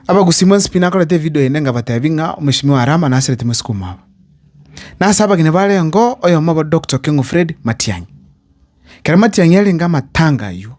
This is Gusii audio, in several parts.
Abagusi mw'ensepini nakorete evidio ende ngabateebia ng'a omosibimi o Arama naserete mwesiko omwabo. Na ase abageni barengeo oyomo obo Dokta Okengo Fred Matiang'i. Ekero Matiang'i arenge amatanga ayio,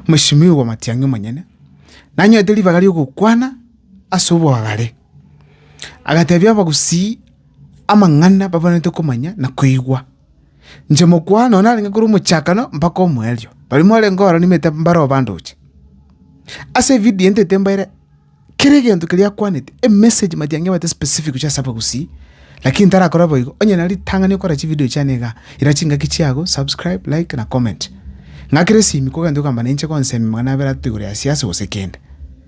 omosibimi oigwa Matiang'i omonyene, nanyorete ribaga ri'ogokwana ase obogare. Agateebia abagusi amang'ana babanenerete komanya na koigwa. Inche mokwana oo narenge korwa omochakano mpaka omoerio, barimo barenge ororo nimanyete mbare obandoche. Ase evidio eye ntaete mbaere kera egento keria akwanete, emessage mati angebete specific gochia ase abagusii, lakini ntarakore boigo, onye na ritang'ani okore chividio chiane igaa, ira chingaki chiago, subscribe, like na comment. Ng'akere esimi kogenda okogamba nainche gonsemi magana abere ato igoro ya siasa gose kende.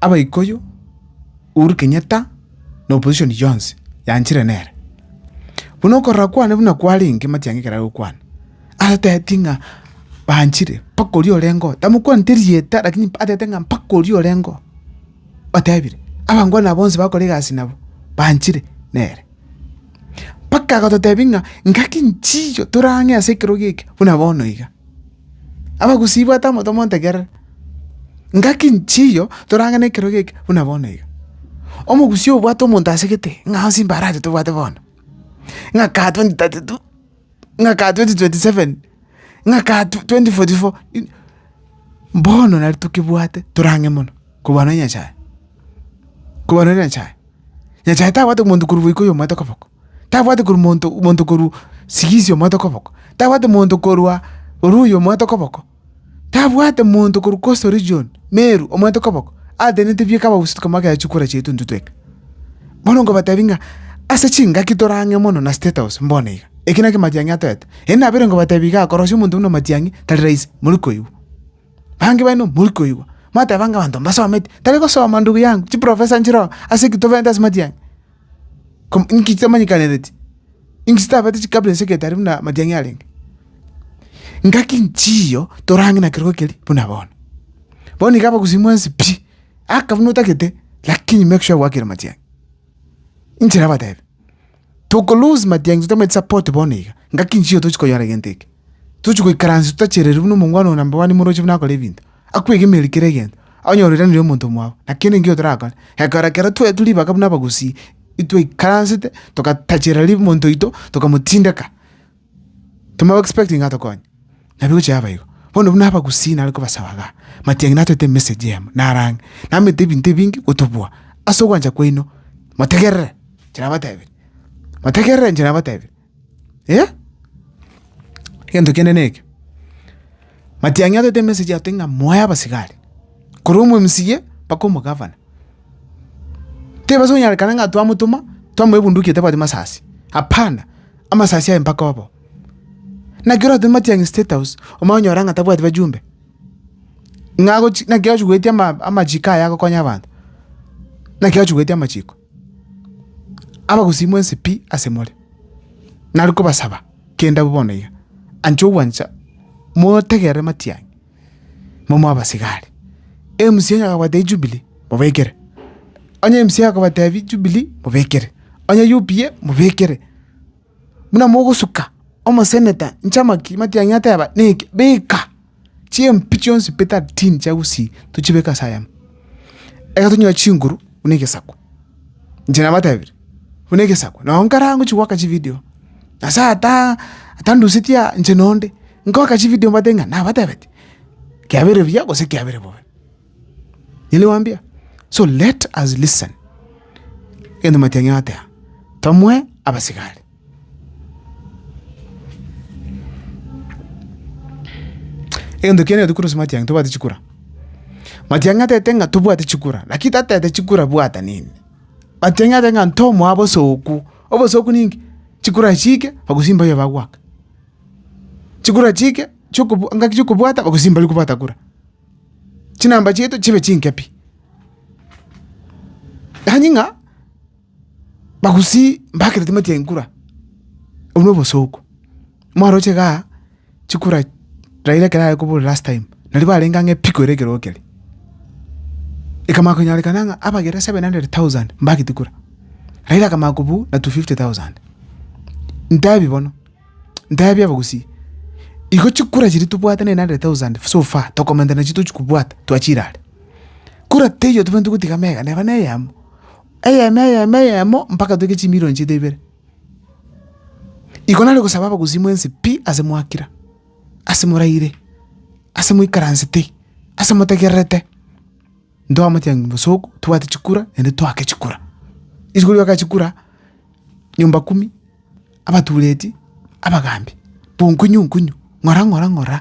Abaikuyu Uhuru Kenyatta na opposition yonsi yanchire nere. Buna okorora kwane buna kwarenge Matiang'i ekero are gokwana, atebetie ng'a banchire mpaka oria orengeo, tamokwaneti erieta lakini atebete ng'a mpaka oria orengeo otebire. Abange ona bonsi bakora egasi nabo banchire nere. Mpaka agototebia ng'a ngaki nchiyo torang'e ase ekerogo eke buna bono iga. Abagusii bwate amoto montegerere, ngaki nchiyo torange na ekerogo eke buna bono iga. Omogusii obwate omonto asegete ng'a onsi mbare aye tobwate bono, ng'a ka twenty thirty two, ng'a ka twenty twenty seven, ng'a ka twenty forty four, bono nari tokebwate torange mono kobua nonya Nyasaye, kobua nonya Nyasaye. Nyasaye tabwati omonto korwa boiko oyomo oete koboko. tabwati korwa monto monto korwa sigisi omoete okoboko, tabwati monto korwa Oruya omoete okoboko, tabwati monto korwa Coastal Region, Meru, omoete okoboko, ateneneti bieka abagusii tukaba bakeya chikura chiaito intwe tweka. Bono nkobatebi ng'a ase chingaki tore ang'e mono na State House mbone iga, eki nakio Matiang'i atoete. Erio nabeire nkobatebi igaa, korosia omonto buna Matiang'i tari rahisi, mori koigwa. Bange baino mori koigwa, mwateba ng'a abanto mbasometi, tari gosoma ndugu yangu, chiprofesa nchire oo, ase eki tobeete ase Matiang'i. Kom- inki chitamanyekanereti? Inki chitabete chikabera ense egete aria buna amatiang'i arenge? Ngaki nchiyo torang'e na kerogo keria buna bono. Bono iga abagusii mwensi pi, aka buna otagete, lakini make sure gwakire amatiang'i. Inche nabatebi, toko lose matiang'i totamanyeti support bono iga, ngaki nchiyo tochi konyora egento eke. Tochi goikaransi totachereri buna omongwana oyo number one imoroche buna akore ebinto. akwegemerie kera egento, onye oroiranire omonto mwao, na kende enkio torakore, egekora ekero toetwe ribaga buna abagusii, itwaikaransete togatachera ri monto oito, tokamotindeka, tomo expecting atokonye, nabo egocha yaba igo. Bono buna abagusii nare kobasaba igaa, matiang'i natwete emessage eyemo, nare ang'e, namanyete ebinto ebinge gotobua, ase ogwancha kwaino, motegerere inche nabatebirie, motegerere inche nabatebirie. Eh! Egento kende neke, Matiang'i atete emesegi ato ng'a moe abasigari, korwa omomsiye mpaka omogavana. Tibabasa konyarekana ng'a twamotoma, twamoa ebunduki etabwati masasi, hapana, amasasi aye mpaka obo. Naki oratome Matiang'i State House, omanye konyora ng'a tabwati bajumbe, ng'a agochi naki agochi goetia ama- amachiko aye agokonya abanto, naki agochi goetia amachiko. Abagusii mwensi pi ase more, nari kobasaba kende abwo bono iga, anche ogwancha motegerere matiang'e, momoe abasigari. Emcee onye akabwate ejubilee, mobekere, onye mca akabatebi jubilee, mobekere, onye UPA mobekere. buna mogosuka omoseneta nchamaki matiang'i ateba neke beka chimpi chionsi pi thirteen chia gusii tochibeke ase ayamo. Ekero tonyora chinguru buna egesaku, inche nabatebire buna egesaku noo nkare angwe gochia goaka chividio nyasaye ataa atandusetie aa inche nonde, ngoaka chividio mbate ng'a nabatebetie kiabere buya gose kiabere bobe. Nigo nabambia, so let us listen, egento matianyi goteeba, tomoe abasigari. Egento kiane gatokorwa ase matiang'i tobwate chikura. Matiang'i atebete ng'a tobwate chikura, lakini tatebete chikura bwata nini. Matiang'i atebete ng'a ntomoa bosooku, obosooku ninki? Chikura chiike bagosi mbaye bagoaka, chikura chiike chiokobwa ngaki chiokobwata bagosi mbarikobwata kura. chinamba chiaito chibe chinke pi. Yaani ng'a bagusii mbakire timati ya inkura, obwo na obosooku. Mwaroche igaa chikura Raila ekero arekobora last time, nario barenge ang'e pi koira ekero keria. Ekamanya konyarekana ng'a abagere seven hundred thousand mbagete kura, Raila akamanya kobua na two fifty thousand. Ntabi bono. Ntebie abagusii, igo chikura chiria tobwate na 900,000 so far, tokomenta nachio tochi kobwata twachire are. Kura teiyo tobwenerete gotiga mega neba na eyemo, eyemo eyemo eyemo mpaka toige chimilion chiaito ibere. Igo nare gosaba abagusii mwensi pi ase mwakira, ase moraire, ase moikaransete, ase motegererete. Ntoamotiga ng'a bosooku tobwate chikura naende toake chikura. Isiko rioka chikura nyomba kumi, abatureti, abagaambi, bonkonyu nkonyu, ng'ora ng'ora ng'ora.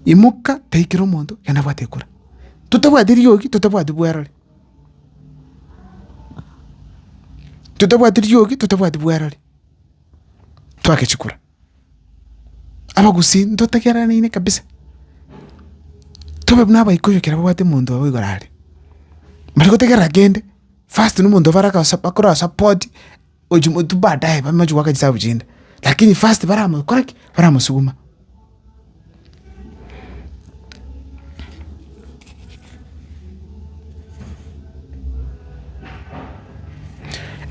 Imoka tai kera omonto genda bwate kura. Totabwati riogi, totabwati bwerore, totabwati riogi, totabwati bwerore, toake chikura. abagusii ntotegerereine kabisa, tobe buna abaikuyu ekero babwate omonto obo igoro aria, mbari gotegerera kende, first na omonto bare akosa bakora support ochi motwe baadaye bamache goaka chisabu chinde, lakini first baramokora ki? Baramosuguma.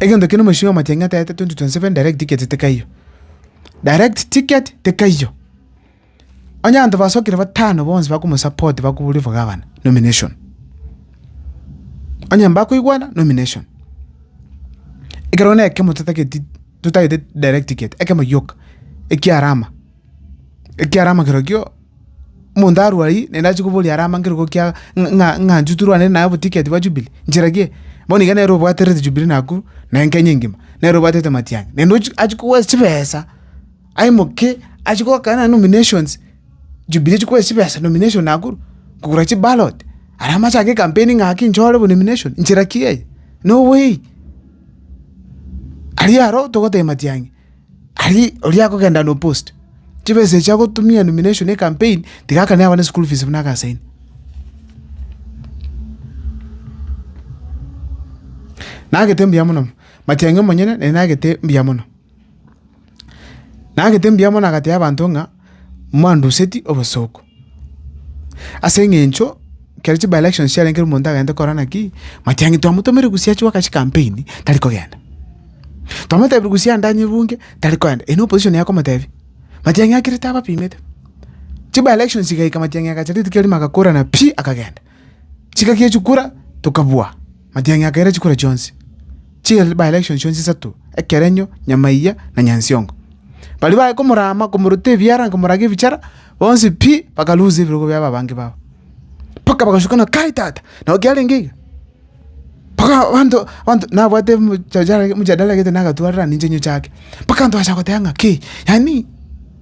Egento kere omochie o matiang'i ataete 2027 direct ticket tikaiyo. Direct ticket tikaiyo. Onye abanto basokire batano bonsi bakomosupport bakoboria for governor nomination. Onye mbakoigwana nomination. Ekero ne ekemo totagetie totagete direct ticket ekemo gioka ekiarama. Ekiara amakero kio, omonto arue aywo, naende ache koboria are amankero gokia ng'a- ng'a- ng'anchu torwane naye oboticket bwa Jubilee, nchera kie? Bono iga nere obwaterete Jubilee Nakuru, naende Kenya engima, nere obwatete matiang'i, naende ochi achi koboyes chibesa, aimoke achi gokaa naende nominations, Jubilee echi koboyes chibesa nomination Nakuru, kogora chiballot, aria amache ake ecampaign ng'a ki nchore bo nomination, nchera ki eye? No way! Aria aro togoteba matiang'i. Aria oria akogenda na opost, chibesa echi agotumia nomination ya ecampaign, tiga akane abana eschool fees buna agasaini. Nagete mbuya mono, matiang'i omonyene naye nagete mbuya mono. Nagete mbuya mono agatebia abanto ng'a. mwanduseti obosooku. Ase engencho ekero chi by elections chiarenge ekero omonto agente kora naki, mwatia ng'a twamotomera egusi achie goaka chikampeni, tari kogenda. Twamotebire egusi ande anye ebunge, tari kogenda, eye n'opposition yaye okomotebia. Matiang'i akirete abapimete. Chi by elections chigaika Matiang'i agachaka rituko erio magakorana pi, akagenda. Chigaki chikura tokabua matiang'i a kera chikura chionsi, chi by-election chionsi isato, ekerenyo, nyamaiya, na nyansiongo. Baria baye komorama komorota ebiara na komorage ebichara, bonsi pi bakalusa ebirogo biabo abange babo, mpaka bagachukana Kai tata, nabo kiarenge iga? Mpaka abanto abanto nabwate emchajara emchadara egete nagatwarire ninche nyochake, mpaka abanto bagocha goteba ng'a ki yaani.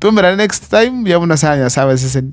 Twaumerane next time, mbuya buna sana Nyasae abasesenie.